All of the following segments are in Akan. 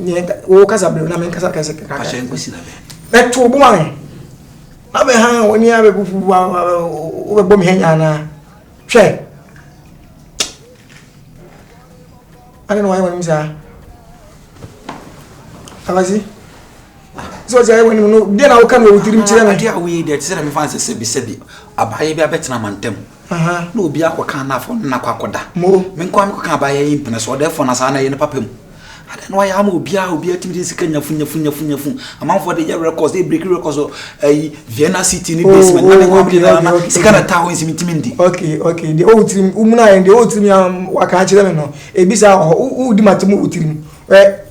nyɛ wo kasa bere na me nkasa kasa kakra ahyɛ nkwasi na bɛ bɛto bo an na bɛ ha wɔn ni abɛ bufu wa wo bɛ bɔ mi hɛn nyana hwɛ ade na wɔayɛ wɔn mu saa abasi. sɛ ɔsɛ ɛwɔ anim no deɛ na woka no wɔ tirim kyerɛ no adeɛ a woyɛ deɛ te sɛ na mefa nsɛ sɛbi sɛbi abaayɛ bi abɛtena mantam na obi akɔka anafo no nakɔ akɔda menkɔ a mekɔka abaayɛ yi mpena so ɔda ɛfɔ na saa na ɛyɛ no papa mu adɛn na wayɛ ama obiara obiara tumi de sika nyafu nyafu nyafu nyafu amanfoɔ de yɛ records de break records ɛyi vienna city ne basement na ne nkɔ amene na na sika na taa hɔ nsimi ntumi ndi okay okay deɛ ɔwɔ tirim womuna yɛn deɛ ɔwɔ tirim yɛn waka akyerɛ me no ebi saa wɔ hɔ wodi ma te mu wɔ tirim ɛ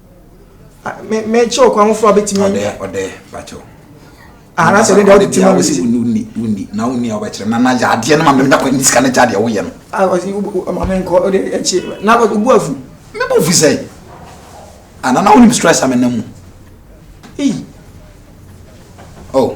mɛkyɛ ɔkwan foforɔ a bɛtumi ɔdɛ ɔdɛ bakyɛ anasɛ ne deɛ wode tema me sɛ wonni wonni na wonni a wobɛkyerɛ na na yadeɛ no ma mɛmda kɔ ne sika no gya deɛ woyɛ no mamenkɔ wode akyi na wobu afu mebɔ afu sɛ ana na wonim stress a menam mu ei oh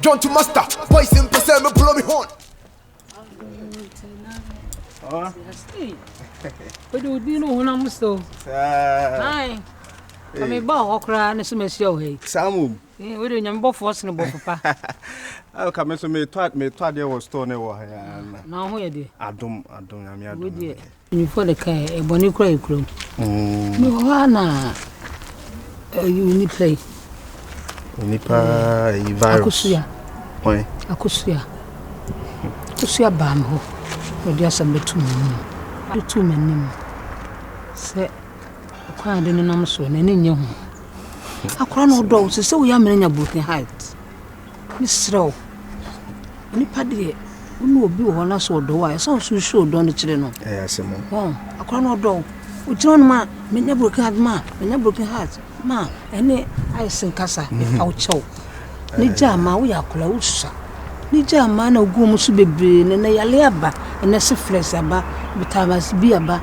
John to master, boys in person, me blow me horn. Wode wodi no honam mu so. Ae. Ka me ba hɔ koraa ne so mahyia wo ha yi. Saa mom. Wode nyame bɔfoɔ sene bɔ papa. Ka me so metɔ adeɛ wɔ store ne wɔ ha. Na wo ho yɛ deɛ? Adom, adom, nyame adom. Mpanyimfoɔ de kae, ɛ, bɔne kura yɛ kurom. Mewɔ hɔ ara na ɛyi onipa yi. Onipa yi virus. Akosua. Wɔn. Akosua. Akosua baa me hɔ. Ɔde asɛm bɛtu m'anim. Ɔde tu m'anim sɛ ɔkwan ade no nam so n'ani nyɛ ho. Akora na ɔdɔ wo sɛ sɛ woyɛ amena nya broken heart. Mesrɛ wo, nipa deɛ wo ne obi wɔ hɔ na sɛ ɔdɔ wo a, ɛsɛ sɛ ɔso show dɔ no kyerɛ no. Ɛyɛ asɛm o. Wɔn akora no ɔdɔ wo. Ogyina hɔ no ma menya broken heart ma menya broken heart ma ɛne ayɛ sɛ nkasa ɛfa wo kyɛw. Ne gya ama woyɛ akora wosa. Ne gya ama na ogu wɔn so bebree na na yale aba ɛna syphilis aba tetanus bi aba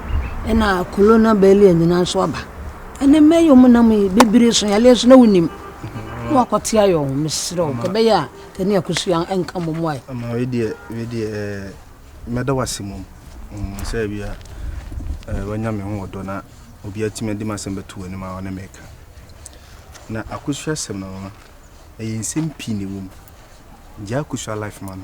ɛna colonial bɛli nyinaa nso aba. Ɛna mɛyɛ wɔn nam yi bebree so yale nso na wonim. na wakɔte ayɛ ɔho mesrɛ wo ka ɛbɛyɛ a kane akosua nka mmɔ mu ayɛ ama wei deɛ wei deɛ eh, mɛda wase mmom mm, sɛ bia eh, wanya me ho ɔdɔ na obi atumi adi m'asɛm bɛto w'anim a ɔne meka na akosua asɛm no mama ɛyɛ nsɛm pii ne wɔ mu gyaa akosua life ma no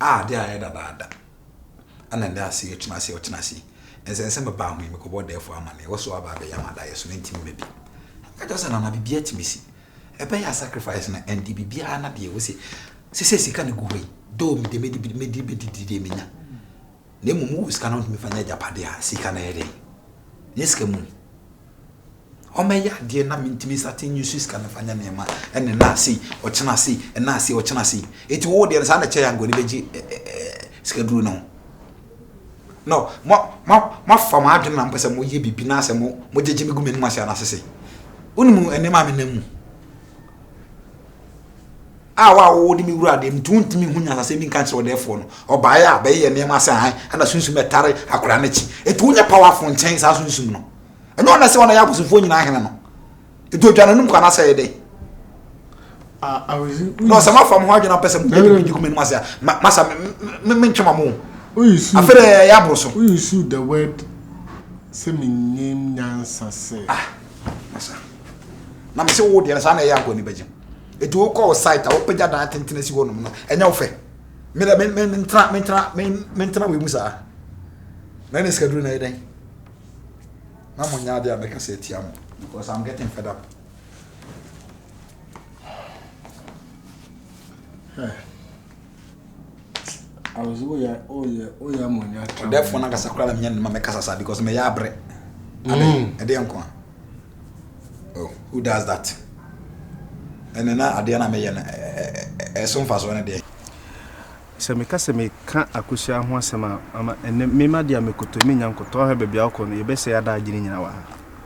a ade ayɛ dadaada na ɛda ase yi, ɔkyena ase yi, ɔkyena ase yi, nsɛnsɛm bɛba ahoyi mekɔbɔ ɔdɛɛfoɔ amanneɛ, wɔ so aba abɛyɛ amadayɛ so na ɛntimi mma bi. Meka kyerɛ sɛ, Nana, biribi atumi si. Ɛbɛyɛ a sacrifice no, ɛnde biribiara na deɛ ɛwɔ se, sɛ sɛ sika na ɛgu hɔ yi, though me deɛ mɛdi, mɛdi, mɛdi deɛ menya. na mmom wo sika no wotumi fa nya agyapade a sika no yɛ dɛn nyɛ sika mu ɔmɛyɛ adeɛ na mentumi sate nyi so sika no fa nya nneɛma ɛne na ase ɔkyena ase ɛna ase ɔkyena ase eti wo deɛ no saa na kyɛ yango ne bɛgye sika duro no no mo mo mo afa mo adwene na mo pɛ sɛ mo yɛ bibi na asɛ mo mo gyegye me gu me num ase anasese wo ne mu ɛne maame na mu a wo a wowɔ de me wura deɛ metu ntumi ho nyanasɛm bi nka nkyerɛ ɔdɛɛfoɔ no ɔbaeɛ a bɛyɛ yɛ nneɛma sɛ han ɛna sunsum ɛtare akwadaa no akyi ɛtu nyɛ powerful nkyɛn saa sunsum no ɛnyɛ ɔna sɛ ɔna yɛ abosomfoɔ nyinaa hene no ɛtu adwa n'anom kɔ anasɛ ɛyɛ dɛn na ɔsɛ mafa mo ho adwene apɛ sɛ mo yɛ bi kuma anim ase a masa mentwe ma mo afei dɛ ɛyɛ aboro so sɛ menyɛ nyansa sɛ ah Masa. Na me se wo deɛ no saa na ɛyɛ akɔ anibagye mu. Eti wo kɔ wo site a wopagya dan tenten asi hɔ nom no ɛnyɛ wo fɛ. Me dɛ me me ntena me ntena me me ntena wei mu saa. Na ɛna sika duru na ɛyɛ dɛn? Na mo nyɛ adeɛ a mɛka sɛ atia mo because I'm getting fed up. Hwɛ. ɔdɛfoɔ no ankasa koraa na menya ne ma mɛkasa saa because mɛyɛ abrɛ mm. ɛdeɛ nko a oh, who does that ɛne na adeɛ no a meyɛ no ɛso mfasoɔ no deɛ sɛ meka sɛ meka akosua ho asɛm a ama ɛnɛ mema deɛ a mekoto menya nkotɔ ahwɛ baabi a wokɔ no yɛbɛsɛ ada agyene nyina wɔ ha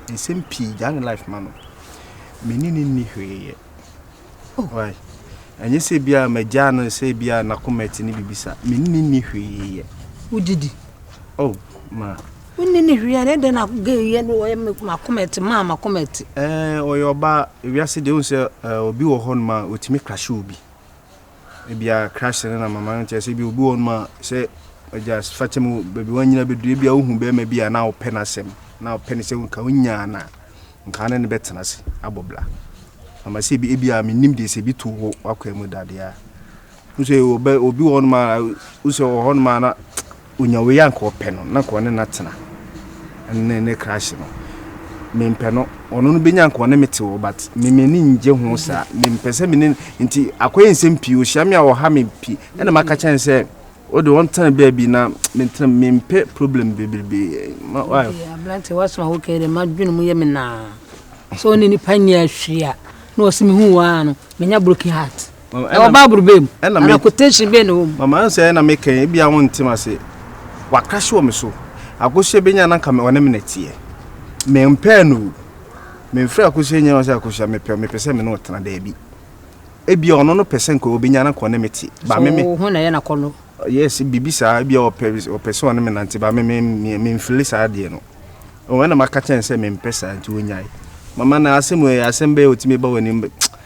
nsɛm pii gyaa ne life ma no mene ne nni hweeyɛ Oh, why? Ɛnyɛ sɛ bi a magyaa no sɛ bi a n'akoma ti ne biribi sa. Me ne ne nni hwee yɛ. Wogye di? Oh, ma. Wonni ne hwee a na ɛdɛn na gay yɛ no ɔyɛ m'akoma ti maa m'akoma ti. Ɛɛ, ɔyɛ ɔbaa. Ewiase deɛ wohu sɛ obi wɔ hɔ nom a ɔtumi krahye obi. ebia crush no na mama no ntease ebia obi wɔ hɔnom a sɛ agya fa kyɛ mu baabi wanyina bɛduru ebia wohu bɛrima bi a na wopɛ no asɛm na wopɛ no sɛ nka wonyaa no a nka ne ne bɛtena ase abɔ bla ama sɛ ebi ebia menim deɛ sɛ bi to wo wakwan mu dadeɛ a wosɛ obi wɔ hɔnom a wosɛ wɔ hɔnom a na Onya wei a nka ɔpɛ no na nka ɔne no atena ne ne crush no mempɛ no ɔno no bɛnya nka ɔne me te wɔ but me m'ani ngye ho saa mempɛ sɛ me ne nti akɔyɛ nsɛm pii ɔhyia me a ɔha me pii ɛna maka kyɛn sɛ o de wɔn tena baabi na mentena mempɛ problem bebrebe ma wa aberante waso a wokɛ dɛ madwene mu yɛ me naa sɛ ɔne nipa nyɛ ahwiri a na ɔsɛ mehu wɔ a no menya broken heart Ɛwɔ Bible bɛn mu? Ana quotation bɛn na ɛwɔ mu? Mama ɛnsɛ ɛna me kɛn ebi a wɔn ntem ase. Wakrahye wɔ me so. Akosua bɛnya na nka me ɔne me na teɛ. Me mpɛɛ no o. Me mfrɛ akosua nyɛ ɔsɛ akosua me pɛ me pɛ sɛ me ne ɔtena daabi. Ebi a ɔno no pɛ sɛ nka ɔbɛnya na nka ɔne me te. Ba me me. So ho na ɛyɛ na kɔ no? Yes bibi saa ebi a ɔpɛ ɔpɛ sɛ ɔne me nante ba me me me mfili saa deɛ no. Ɔwɔ ɛna maka kyɛn sɛ me mpɛ saa nti ɔnyae. Mama na asɛm wɔ yɛ asɛm bɛɛ ɔtumi ba wɔ anim bɛ.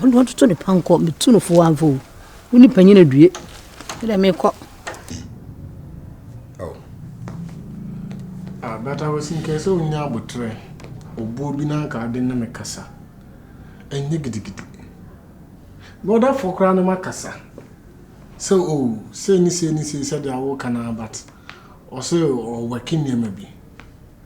Ɔno ɔtoto ne pankɔ, metu no fo amfa o. Wo ne panyin adue, me dɛ mekɔ. Oh. Ah, but I was in case sɛ wonya abotrɛ, obuo bi na anka ade ne me kasa. Ɛnyɛ gidigidi. Bɔdafoɔ koraa ne makasa. Sɛ o, oh, sei ne sei ne sei sɛdeɛ woka no but ɔsɛ ɔwɛke nneɛma bi.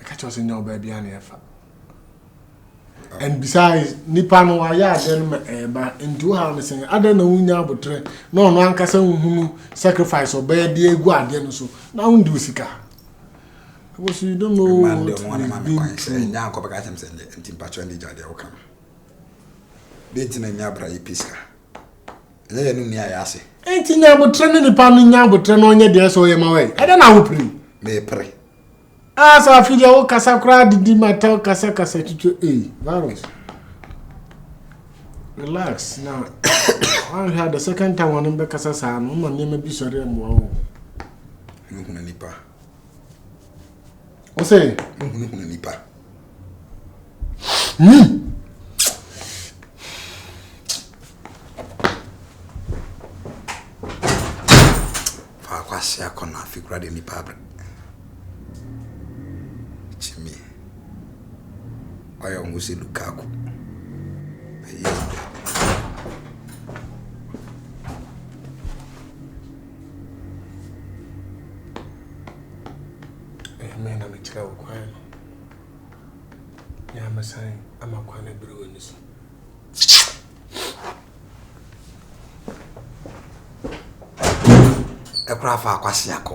ɛka kyerɛ sɛ nyɛ ɔbaa biara na ɛfa and besides nipa no wayɛ adeɛ no ma ɛɛba nti wohaw no sɛn adɛn na wonya abotrɛ na ɔno ankasa wohunu sacrifice ɔbɛyɛ de agu adeɛ no so na wondi wo sika because you don't know what is being true ɛnya nkɔbɛka kyɛm sɛ nti mpakyɛ ndi gya deɛ woka no deɛ nti na nya abra yi pɛ sika ɛnyɛ yɛn no ni a yɛase. Enti nya abotrɛ ne nipa no nya abotrɛ na ɔnyɛ deɛ ɛsɛ ɔyɛ ma wɛn. Ɛdɛ na wopere. Mepere. Ah sɛ afi deɛ wo kasa koraa didi mata kasa kasa twitwa ei virus. Relax na wanhwɛ a the second time wɔn bɛkasa saa no ma nneɛma bi sɔre mmoa wo. Hunahuna nipa. Wo sɛ? Hunahuna nipa. Faako ase akɔ na afi kura de nipa abere. Kyimi. Ɔyɛ ɔmo si Lukaku. Ɛyɛ ɔmo. Ɛyɛ mɛ na mekyerɛ wo kwan no. Na mɛsan ama kwan abiri w'ani so. Ɛkora fa akwasi akɔ.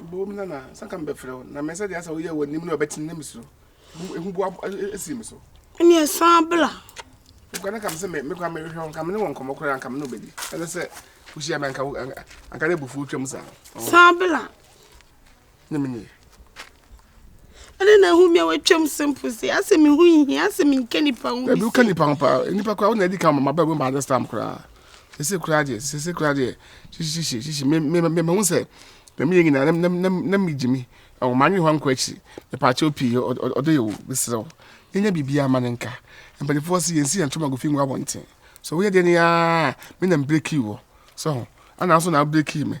Boom nana, sɛ ka mebɛfrɛ wo na mɛsɛ deɛ asɛ woyɛ wɔ anim no ɔbɛtene na mesuro. Ehu bo asi me so. Ɛne ɛsan bla. Wokɔ na kam sɛ me mekɔ mehwehwɛ wo kam ne wɔ nkɔmmɔ koraa kam ne wobɛdi. Ɛne sɛ wohyia me anka anka ne abufuo twam saa. San bla. Ne menyɛ. ɛne na ahu me a watwam se mpo se asɛ me ho nhia asɛ menka nipa ho bi woka nipa ho paa nipa koraa wona adi ka ma bɛbɛ ma this time koraa sese koraa deɛ sese koraa deɛ hyehyehyehye hyehye me me me mahu sɛ na meyɛ nyinaa na na na megye me ɛwɔ ma anwe hɔ ankɔ akyiri mepaakyɛw pii ɔdɔ yɛ wo mesrɛ wo yɛnya biribiaa ma no nka mpanimfoɔ se yɛnsi yɛn ntomago fi ngu abɔnten so woyɛ deɛ ne aa me na mbreki wɔ so ho ana nso na abreki me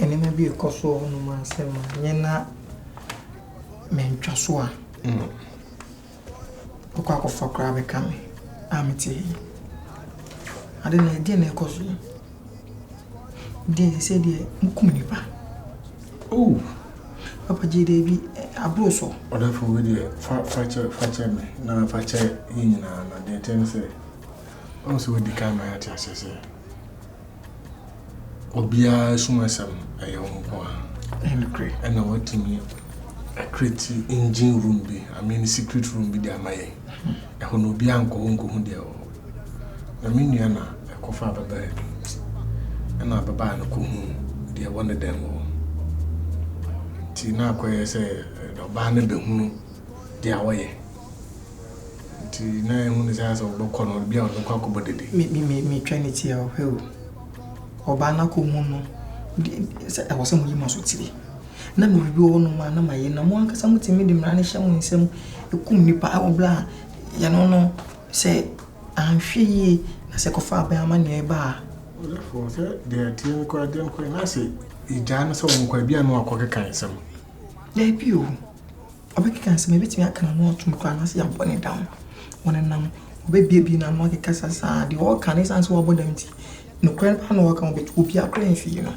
Nneɛma bi a ɛkɔ so wɔ hɔnom a sɛ manyɛ na mantwa so a, wokɔ akɔfa koraa bɛka me a mete ha yi. Ade na ɛdeɛ na ɛkɔ so yi. Deɛ ɛsɛ sɛ deɛ mokum nipa. Oh! Papa gye deɛ bi aboro so. Ɔdafo wei deɛ fa fa kyɛ fa kyɛ me na fa kyɛ yɛn nyinaa na deɛ ɛkyɛ ne sɛ ɔn sɛ wadi kan ma yɛate ahyɛ sɛ obiara asumasɛm no ɛyɛ wo nko ara ɛna watumi akreti engine room bi i mean secret room bi de ama yɛn ɛhɔ na obiara nkɔ hɔ nkɔhu deɛ ɛwɔ na me nua na ɛkɔfa abɛbaa bi ɛna abɛbaa no kɔhu deɛ ɛwɔ ne dɛm wɔ nti na akɔyɛ sɛ ɔbaa no bɛhunu deɛ wɔyɛ Nti na ehu no saa sɛ wɔbɛkɔ no, bia wɔde bɛkɔ akɔbɔ dede. Me me me me twɛn ti a ɔhwɛ o. Ɔbaa no akɔ hu no sɛ ɛwɔ sɛ mo yi ma so tiri. Na me biribi wɔ hɔ nom a na ma yɛ na mo ankasa mo tumi de mmara no hyɛ mo nsam kum nipa ɛwɔ bla a yɛ no no sɛ anhwɛ yie na sɛ kɔfa abɛn ama nea ɛba a. Ɔlɛfo sɛ deɛ ɛteɛ no kora deɛ no kora na sɛ egyaa no sɛ wɔn kɔ a bia no akɔ keka nsɛm. Daabi o. Ɔbɛkeka nsɛm a ebetumi aka n'ano atom koraa anaasɛ yɛabɔ no dam. Ɔnenam hɔ, obebuebue n'ano akeka sa saa. Deɛ ɔreka no, esiane sɛ wabɔ dam nti, nokorɛ no paa na ɔreka. Obe obiara koraa remfie no.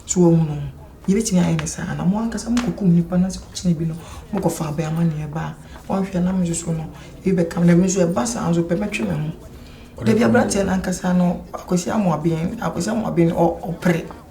So woahunu? Yebetumi ayɛ no saa. Na mo ankasa mokɔkum nnipa anaasɛ mokyere ebi no, mokɔfa abɛn amanneɛ ba a, woanhwɛ a na me nso so no, ebi bɛka me. Na me nso ɛba saa nso pɛ, mɛtwe me ho. Da bi aberanteɛ no ankasa no, Akwasi Amoaben, Akwasi Amoaben, ɔ ɔpere.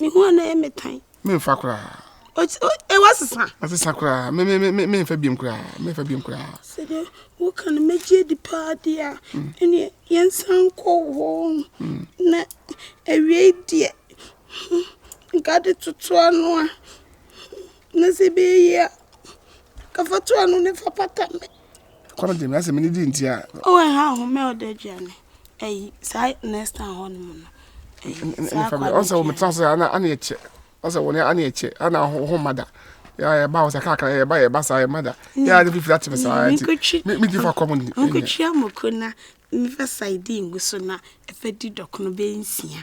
Me ho ana ɛyɛ me tan. Memfa koraa. Ɛ wasesa. Asesa koraa. Me me me memfa biom koraa. Memfa biom koraa. Sɛ de wo ka no megye di paa deɛ a. Mm. Ɛne yɛnsan kɔ hɔ. Mm. Na awiei deɛ nka de totoa no a. Na sɛ bɛɛyi a kafato ano ne fa pata me. Kɔ no gyemi asɛ mene di nti a. Ɔwɔ ɛha ahome a ɔda aduane ayi saa next time hɔ no mu no. Ɔsɛ wɔn tra sɛ ana ana ɛkyɛ ɔsɛ wɔn ana ɛkyɛ ana ho mada yɛ ba ɔsɛ kakra yɛ ba yɛ ba saa yɛ mada yɛ adi fifi ati mi saa ati mi ti fa kɔm ni. Nkotwi amoko na nfa saidi ngu so na ɛfɛ di dɔkono bɛ nsia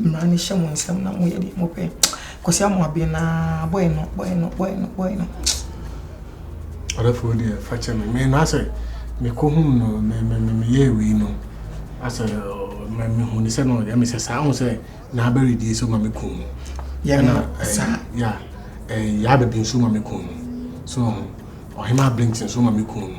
Mmara no hyɛ mo nsam na moyɛ deɛ mopɛ. Kwasi Amoaben na bɔyɛ no bɔyɛ no bɔyɛ no bɔyɛ no. Ɔdɔfoɔ deɛ fa kyɛ me me na sɛ mekɔhum no me me me meyɛ wei no asɛ me mehu ne sɛ no deɛ me sɛ saa ho sɛ na abɛredie so ma me kum no. Yɛ na saa. Ya ɛɛ yɛ abɛbi nso ma me kum no so ɔhema abɛnti nso ma me kum no.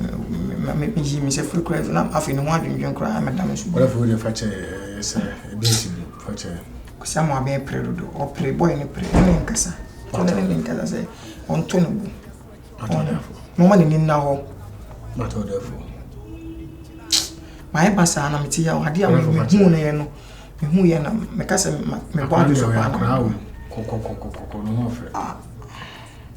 me me yii me nsa firi koraa na afei me ho adwendwen koraa na meda me so. Wala fo de fa kyɛ eh, sɛ ebi nsi bi fa kyɛ. Kwasi ama abɛn pere dodo ɔpere boy ne pere ne nkasa kɔnɔ ne ne nkasa sɛ ɔntɔ ne bu. Mama ne nim na hɔ. Matɔ dɛ fo. Mayɛ ba saa na mete yɛ ade a mehu no yɛ no mehu yɛ na meka sɛ mebɔ ado so paa. Kɔkɔkɔkɔkɔ no ho ɔfɛ.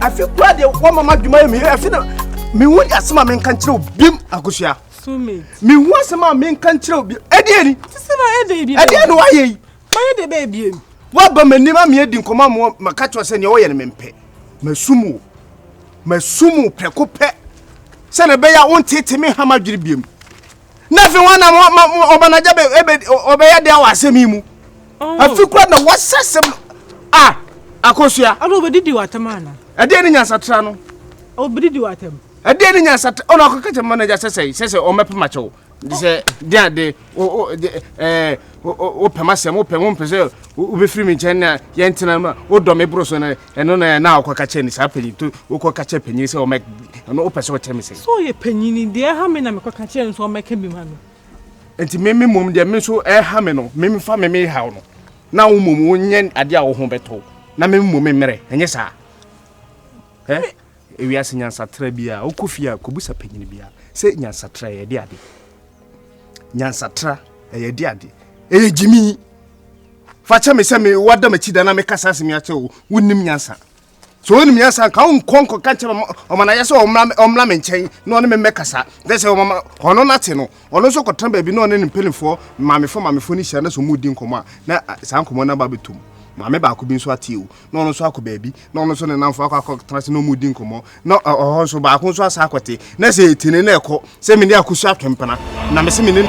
afi kura de wɔma ma adwuma yɛ mi afi na mehu asɛm a menka nkyerɛ obim akosua mehu asɛm a menka nkyerɛ obim ɛdeɛ ni ɛdeɛ ne woayɛ yi mayɛ de bɛɛ biem woaba m'anim a meadi nkɔmmɔ amoɔ maka kyerɛ sɛ neɛ wɔyɛ no mempɛ masum wo masum wo prɛko pɛ sɛdeɛ ɛbɛyɛ a wonteete me hama adwene biem na afei wɔn nam ɔbanagya bɛ ɛbɛ ɔbɛyɛ deɛ wɔ asɛm yi mu oh. afi kura na wɔsɛ sɛm a akosua. ɔno obedidi wɔ atɛm ana. ɛdeɛ ne nyansatra no. obedidi wɔ atɛm. ɛdeɛ ne nyansatra ɔno akɔkɛkyɛ manager sɛsɛ sɛsɛ ɔmɛpɛ makyɛw sɛ deɛ de o o ɛɛ. wopɛ m'asɛm wopɛ wompɛ sɛ wobɛfiri me nkyɛn na yɛntena ma wodɔ me boro so no ɛno na na wokɔka kyɛ ne saa panyin to wokɔka kyɛ panyin sɛ ɔmɛ ɛno wopɛ sɛ ɔkyɛ me sɛ so ɔyɛ panyin deɛ ɛha me na mekɔka kyɛ nso ɔmɛka bi ma me nti me me mmom deɛ me nso ɛha me no me mfa me me haw no na wo mmom wonyɛ adeɛ a wo ho bɛtɔ na me mmom me mmerɛ ɛnyɛ saa ɛ ewiase nyansatra bi a wokɔ fie a kɔbusa panyin bi a sɛ nyansatra yɛde ade nyansatra ɛyɛ de ade ɛyɛ gyimi fa kyɛ me sɛ me wada m'akyi da na mekasa asɛm yi akyɛ wo wonim nyansa so wonim nyansa nka wonkɔ nkɔka nkyɛ me ɔmanayɛ sɛ ɔmmra me nkyɛn na ɔne me mmɛkasa dɛ sɛ ɔmama ɔno no ate no ɔno nso kɔtena baabi na ɔne ne mpanimfoɔ mamefoɔ mamefoɔ no hyia na sɛ ɔmudi nkɔmmɔ a na saa nkɔmmɔ no aba bɛtom maame baako bi nso ateɛ o na ɔno nso akɔ baabi na ɔno nso ne namfo akɔ akɔtena ase na ɔmu di nkɔmmɔ na ɔhɔ nso baako nso asa akɔte na sɛ ɛti ne na ɛkɔ sɛ mene akosu atwempena na mese mene